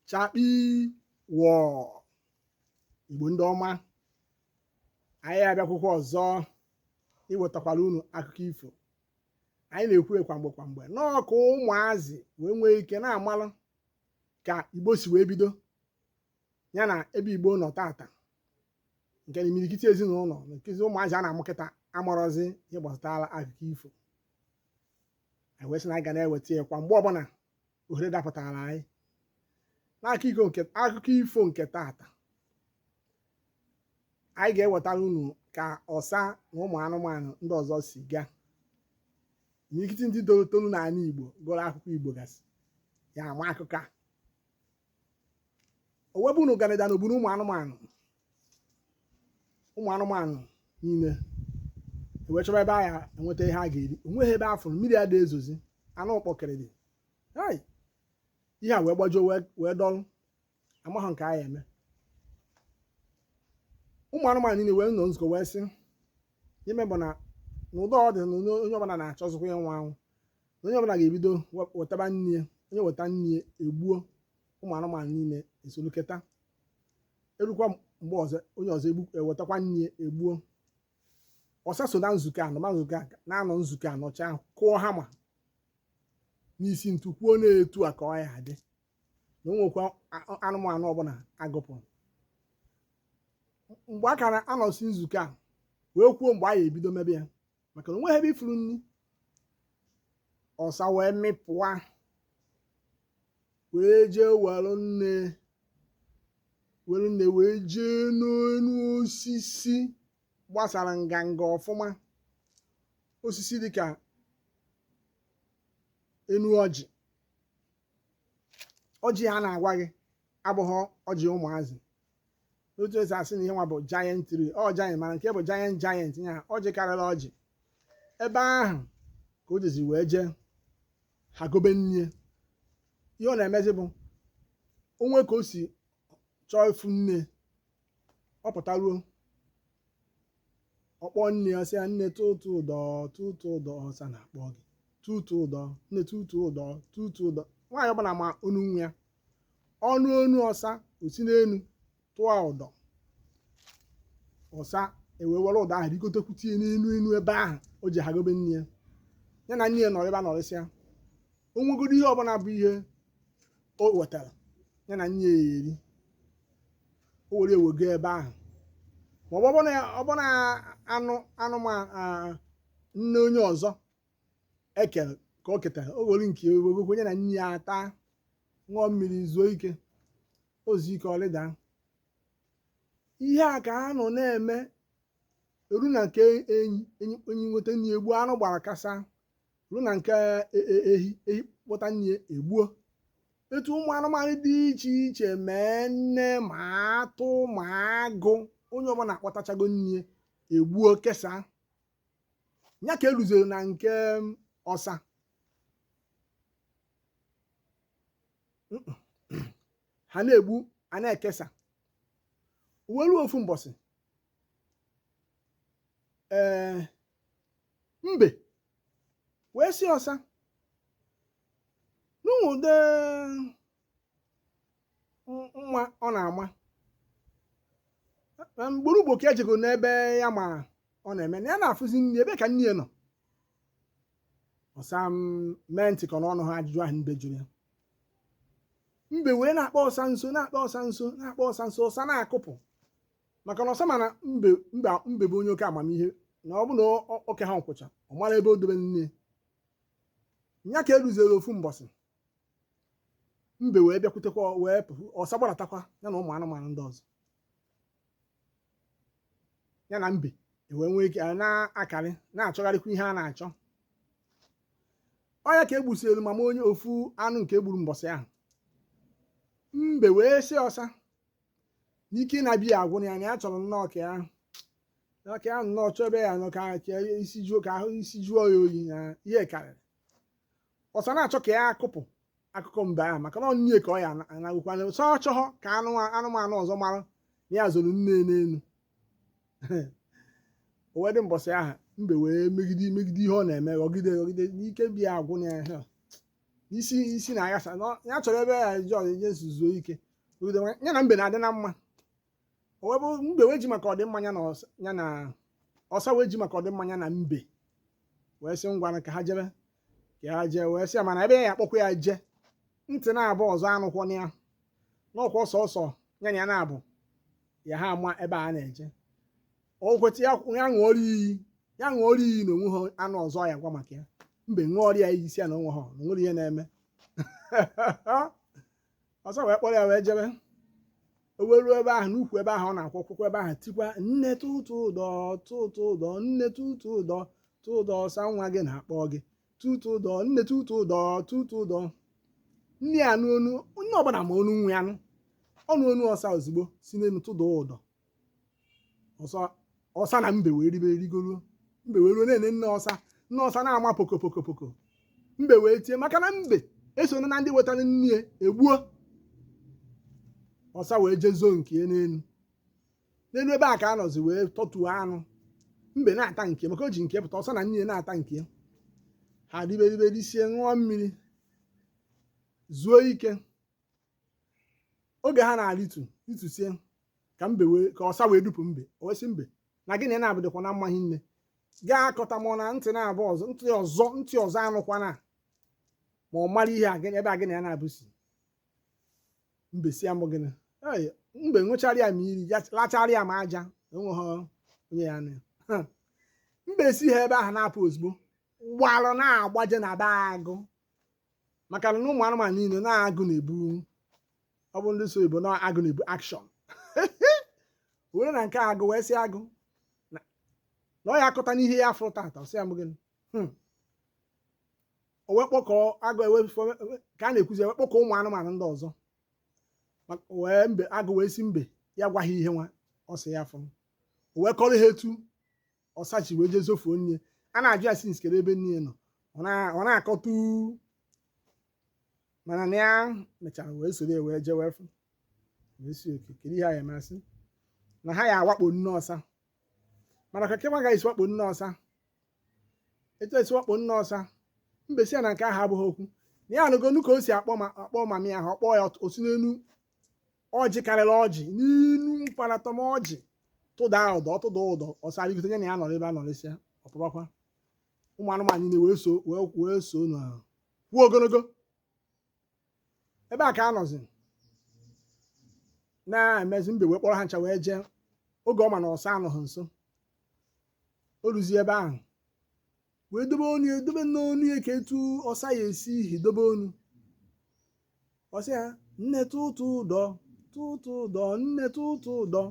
chakpii wọọ igbo ndị ọma anyị abịakwukwa ọzọ iwetakwara unu akụkọ ifo anyị na-ekwu kwa mgbe kwa mgbe na ọ ka ụmụazị wee nwee ike na-amalụ ka igbo si wee bido ya na ebe igbo nọ tata nke na imirikiti ezinụlọ nkezi ụmụazị a na-amụ kịta amarọzi ihe gbasatara akụkọ ifo anyị wee sị na anyị ga na-eweta ya kwa mgbe ọbụla ohere dapụtara anyị n'akụkọ ifo nke tata anyị ga-ewetara unu ka ọsa na ụmụ anụmanụ ndị ọzọ si gaa imirikiti ndị toro toro n'ala Igbo gụrụ akụkọ Igbo gasị ya ama akụkọ a o wee bụ na ụganị daa n'obodo ụmụ anụmanụ ụmụ anụmanụ niile ewee chọba ebe a ya enweta ihe a ga-eri o nweghị ebe a fụrụ mmiri ada ezozi anwụ akpọ kịrịdị hai ihe a wee gbajuo wee wee dọlụ amaghị nke a ya eme ụmụ anụmanụ niile wee nọ nzukọ wee sị ihe ya eme bụ na n'ụdị ọ dị na onye onye ọbụla na-achọzikwa ịnwụ anwụ onye ọbụla ga-ebido wetaba nne ya onye weta nne ya egbuo ụmụ anụmanụ niile esolu keta erukwa mgbe ọzọ onye ọzọ ewetakwa nne ya egbuo ọsa so na nzukọ a nọ ma nzukọ na-anọ nzukọ a nọcha kụọ hama n'isi ntu kwuo na etu a ka ọ ya adị na o nwekwa anụmanụ ọbụla a gụpụrụ mgbe a ka na-anọsi nzukọ a wee kwuo mgbe a ya ebido mebe ya maka na o nweghị ebe ị fụrụ nri ọsa wee mịpụa wee jee were nne were nne wee jee n'elu osisi gbasara nganga ọfụma osisi dịka enu ọjị ọjị a na-agwa gị abụghị ọjị ụmụazị n'otu e si asị na ihe nwa bụ giant tree ọ giant mana nke a bụ giant giant ya ọjị karịrị ọjị ebe ahụ ka o jizi wee jee hagobe nne ihe ọ na-emezi bụ o nwee ka o si chọọ ịfụ nne ọ pụtaruo ọ kpọọ nne ya sị ya nne tụtụ ụdọ tụtụ ụdọ ọsa na-akpọ gị tụtụ ụdọ nne tụtụ ụdọ tụtụ ụdọ nwaanyị ọbụla ma onu nwa ya ọ nụ onu ọsa o si n'elu tụọ ụdọ ọsa ewee were ụdọ ahụ rigotekwute ya n'elu elu ebe ahụ o ji hagobe nne ya ya na nne ya nọrọ ebe a nọrịsịa o nwegodo ihe ọbụla bụ ihe o wetara ya na nne ya eri o were ewego ebe ahụ ma ọ bụrụ ọ bụrụ na anụ anụmanụ nne onye ọzọ e kere ka o ketara o were nke ewegokwa ya na nne ya ata ṅụọ mmiri zuo ike o zuo ike ọ lịda ihe a ka a nọ na-eme eru na nke enyi enyi enyi eweta nne egbu anụ gbara kasa ruo na nke e- e- ehi ehi kpọta nne ya egbuo etu ụmụ anụmanụ dị iche iche mee nne ma atụ ma agụ onye ọbụla akpọtachago nne ya egbuo kesaa ya ka e ruziri na nke m, ọsa Mm-mm. a na-egbu a na-ekesa o wee ruo ofu mbọsị ee mbe wee sị ọsa na ụdị mma ọ na-ama na ugboro ugboro ka e jego na be ya ma ọ na-eme na ya na-afụzi nne ebee ka nne ya nọ ọsa emee ntị ka na ọ nụha ajụjụ ahụ mbe jụrụ ya mbe wee na-akpa ọsa nso na-akpa ọsa nso na-akpa ọsa nso ọsa na-akụpụ maka na ọsa ma na mbe mbe mbe bụ onye oke amamihe na ọ bụ na ọ- ọ- o keha nkwụcha ọ mara ebe o dobe nne ya ka o ruziri ofu mbọsị mbe wee bịakwutekwa wee pụ ọsa gbaratakwa ya na ụmụ anụmanụ ndị ọzọ ya na mbe ewee nwee ike a na-akarị na-achọgharịkwa ihe a na-achọ ọ ya ka e gbusiri mama onye ofu anụ nke e gburu mbọsị ahụ mbe wee sị ọsa na ike na-abịa agwụ ya na ya chọrọ nnọọ ka ya na ka ya nnọọ chọọ ebe ya nọ ka ka ya isi juo ka ahụ isi juo ya oyi na ihe karịrị ọsa na-achọ ka ya akụpụ akụkọ mbe ahụ maka na ọ nne ka ọ ya anagụkwa na ọsa achọghọ ka anụ anụmanụ ọzọ mara na ya zoro nne n'elu o wee dị mbọsị ahụ mbe wee megide megide ihe ọ na-eme ghọgide ghọgide na ike bịa agwụ na ya isi isi na-aghasa na ya chọrọ ebe ya ji ọdịnye zuo ike ude nwa- ya na mbe na-adị na mma o wee bụrụ mbe wee ji maka ọdịmma ya na ọsa ya na ọsa wee ji maka ọdịmma ya na mbe wee sị ngwanụ ka ha jebe ka ha jee wee sị ya mana ebe ya akpọkwa ya je ntị nabọ ọzọ anụkwana ya na ọ kwa sọsọ ya na ya nabọ ya ha ama ebe a na-eje o kweta ya ya ṅụọrọ iyi ya ṅụọrọ iyi na o nweha anụ ọzọ ya ga-agwa maka ya mbe ṅụọrọ ya iyi sị ya na o nweha na o nwehe ihe na-eme ọsa wee kpọrọ ya wee jebe o wee ruo ebe ahụ n'ukwu ebe ahụ ọ na-akwụ akwụkwọ ebe ahụ tikwa nne tụtụ ụdọ tụtụ ụdọ nne tụtụ ụdọ tụtụ ụdọ ọsa nwa gị na-akpọ gị tụtụ ụdọ nne tụtụ ụdọ tụtụ ụdọ nne ya anụ onu nne ọbụla ma onu nwa ya nụ ọ nụ onu ọsa ozugbo si n'elu tụda ụdọ ọsa ọsa na mbe wee rịbe rịgoro mbe wee ruo na-ene nne ọsa nne ọsa na-ama poko poko poko mbe wee tie maka na mbe esoro na ndị wetara nne ya e gbuo ọsa wee je zoo nke ya n'elu n'elu ebe a ka a nọzi wee tọtuo anụ mbe na-ata nke maka o ji nke pụta ọsa na nne ya na-ata nke ya ha ribe ribe risie ṅụọ mmiri zuo ike oge ha na-arịtu rịtusie ka mbe wee ka ọsa wee dupu mbe o wee sị mbe na gị na ị na-abụdịkwa na mmaghị nne gaa akọta ma ọ na ntị na-abụ ọzọ ntị ọzọ ntị ọzọ anụkwana ma ọ mara ihe a gịnị ebe a gịnị ya na-abụsi mbe sị ya mụ gịnị Ei, mbe ṅụchara ya ma iyi ya lachara ya ma aja enweghị onye ya na ya mbe si ha ebe ahụ na-apụ ozugbo gbalụ na-agbaje na be agụ maka na ụmụ anụmanụ niile na agụ na-ebu ọ bụ ndị so igbo na agụ na-ebu action wee ruo na nke agụ wee sị agụ na na ọ ya akọta n'ihe ya fụrụ tata ọ sị ya mụ gịnị Hmm. o wee kpọkọọ agụ ewe ka a na-ekwuzi e wee kpọkọọ ụmụ anụmanụ ndị ọzọ Ma- wee mbe agụ wee sị mbe ya gwa ha ihe nwa ọ sị ya fụrụ o wee kọrọ ha etu ọsa si wee jee zofuo nne a na-ajụ ya sị nsikere ebe nne nọ ọ na- ọ na-akọtu mana na ya mechara wee soro ya wee jewe fụ wee sị okay kedu ihe a ya eme a sị na ha ya awakpo nne ọsa mana ka kenwa ga-esi wakpo nne ọsa etu esi wakpo nne ọsa mbe sị ya na nke ahụ abụghị okwu na ya anụgonụ ka o si akpọ ma akpọ mami ahụ ọ kpọọ ya o si n'elu ọjị karịrị ọjị n'enu mkparatọm ọjị tụda ụdọ tụda ụdọ ọsa arịgote ya na ya nọrọ ebe a nọrịsịa ọ pụbakwa ụmụ anụmanụ niile wee so wee wee so na kwuo ogologo ebe a ka a nọzi na-emezi mbe wee kpọrọ ha ncha wee jee oge ọ ma na ọsa anọghị nso o ruzie ebe ahụ wee dobe onu ya dobe n'onu ya ka etu ọsa ya esi ihi dobe onu ọ sị ya nne tụtụ ụdọ tụtụ ụdọ nne tụtụ ụdọ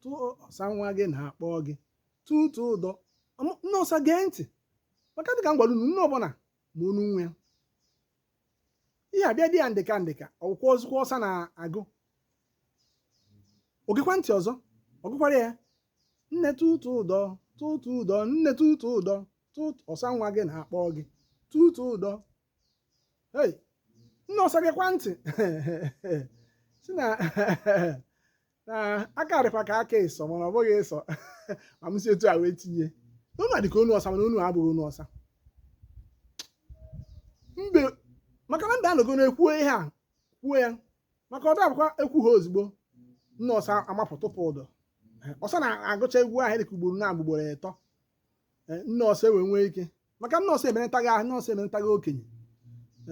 tụ ọsa nwa gị na-akpọ gị tụtụ ụdọ nne ọsa gee ntị maka dịka m gwara unu nne ọbụla ma onu nwa ya ihe a bịa dị ya ndịka ndịka ọ bụkwazikwa ọsa na-agụ o gekwa ntị ọzọ ọ gụkwara ya nne tụtụ ụdọ tụtụ ụdọ nne tụtụ ụdọ tụtụ ọsa nwa gị na-akpọ gị tụtụ ụdọ hey nne ọsa gekwa ntị sị na na aka dịkwa ka aka ịsọ mana ọ bụghị ịsọ ma m si etu a wee tinye na onu a dịka onu ọsa mana onu abụghị onu ọsa mbe maka na mbe anọgo na-ekwuo ihe a kwuo ya maka ọda abụkwa ekwu ha ozugbo nne ọsa amapụ tụpụ ụdọ ọsa na-agụcha egwu ahụ dịka ugboro na ugboro ịtọ eh, nne ọsa wee nwee ike maka nne ọsa emenatago ahụ nne ọsa emenatago okenye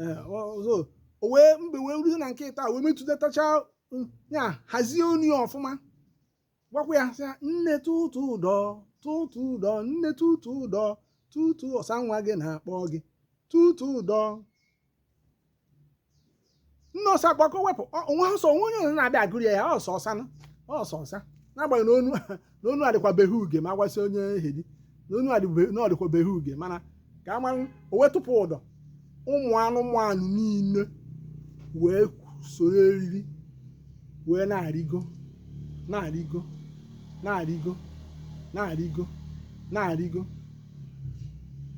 eh, ọzọ o wee mbe wee ruo na nke ịtọ wee metụtatacha mm, ya hazie onu ya ọfụma gwakwa ya sị nne tụtụ ụdọ tụtụ ụdọ nne tụtụ ụdọ tụtụ ọsa nwa gị na-akpọ gị tụtụ ụdọ nne ọsa gbakọọ wepụ o nwe ọ sị o nwe onye ọzọ na-abịa agụrụ ya ya ọ sọ ọsa nụ ọ sọ ọsa n'agbanyeghị na onu na onu adịkwa very huge ma a gwa sị onye heavy na onu adị ve- na ọ dịkwa very huge mana ka a mara o wee tụpụ ụdọ ụmụ anụmanụ niile wee soro eriri wee na-arịgo na-arịgo na-arịgo na-arịgo na-arịgo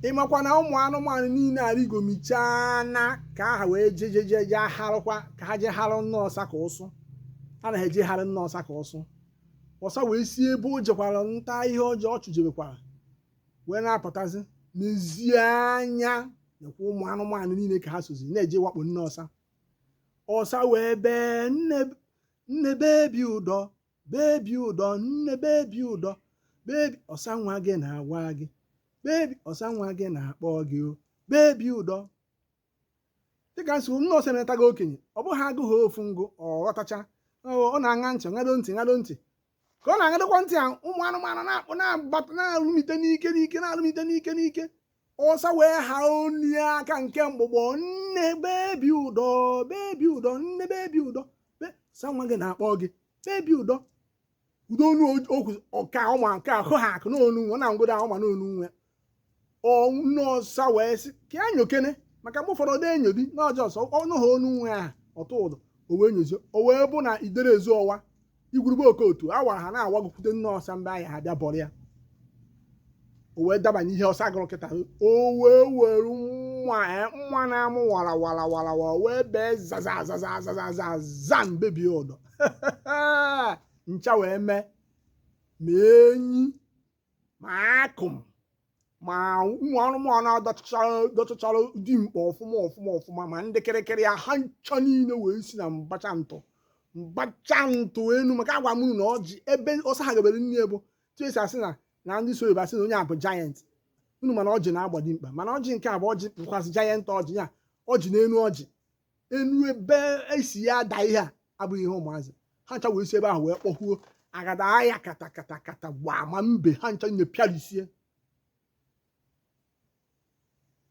ị makwa na ụmụ anụmanụ niile arịgomichaa na ka ha wee jejeje je harụkwa ka ha je harụ nne ọsa ka ụsụ ha na-eje harụ nne ọsa ka ụsụ ọsa wee si ebe o jekwara nta ihe ọjọọ ọ chụjebekwara wee na-apụtazi nezie anya nekwa ụmụ anụmanụ niile ka ha sozi na-eje ịwakpo nne ọsa ọsa wee bee nne nne bebi ụdọ bebi ụdọ nne bebi ụdọ bebi ọsa nwa gị na-agwa gị bebi ọsa nwa gị na-akpọ gị o bebi ụdọ dịka m sị nne ọsa emelatago okenye ọ bụghị agụ ha ofu ngụ ọ ghọtacha ọ na-aṅa ntị ṅado ntị ṅado ntị ka ọ na-aṅadokwa ntị a ụmụ anụmanụ na-akpụ na-agbata na-alụmite n'ike n'ike na-alụmite n'ike n'ike ọsa wee ha onu ka nke mgbụgbọ nne bebi ụdọ bebi ụdọ nne bebi ụdọ ọsa nwa gị na-akpọ gị bebi ụdọ udo onu okwu ọka ọma nke ahụ ha akụ n'onu nwa na ngodo ahụ ma n'onu nwa nne ọsa wee sị ka ya nyokene maka mgbe ụfọdụ ọ dị enyo dị n'ọjọọ ọsọ ọ nụ ha onu nwa ahụ ọ tụọ ụdọ o wee nyozie o wee bụ na idere ezuo ọwa igwurube okotu awa ha na-awagokwute nne ọsa mgbe ihe a bịa bọrọ ya o wee dabanye ihe ọsa gụrụ kịta o wee were mma eh, mma na-amụ wara wara wara wara wee bee zaza zaza zaza zaza bebie ụdọ ncha wee mee ma enyi ma akụm ma ụmụ anụmanụ dọchachara dimkpa ọfụma ọfụma ọfụma ma ndị kịrịkịrị ya ha ncha niile wee si na mbacha ntụ mbacha ntụ enu maka agwa m unu na ọjị ebe ọsa ha gabere nne bụ etu esi asị na na ndị sụ oyibo asị na onye a bụ giant unu ma na ọjị na-agba dimkpa mana ọjị nke a bụ ọjị bụkwasị giant ọjị ya ọjị n'enu ọjị enu ebe esi ya ada ihe a abụghị ihe ụmụazị ha ncha wee si ebe ahụ wee kpọkwuo agada ahịa kata kata kata gbaa ma mbe ha ncha epịarisie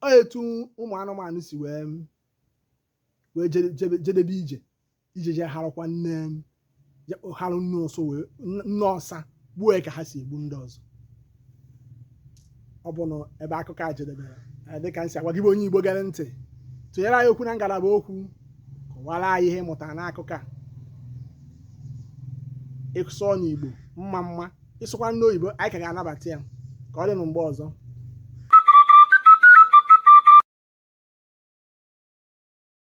ọ etu ụmụ anụmanụ si wee wee jedebe ije ije je harụkwa nne ya kpọhara nne ọsa were nne ọsa gbuo ya ka ha si egbu ndị ọzọ ọ bụ na ebe akụkọ a jedebere eh, dịka m si agwa gị bụ onye igbo gere ntị tụnyere anyị okwu na ngalaba okwu kọwara anyị ihe ị mụtara n'akụkọ a ị sụọ n'igbo mma mma ị sụkwa n'oyibo anyị ka ga-anabata ya ka ọ dị na mgbe ọzọ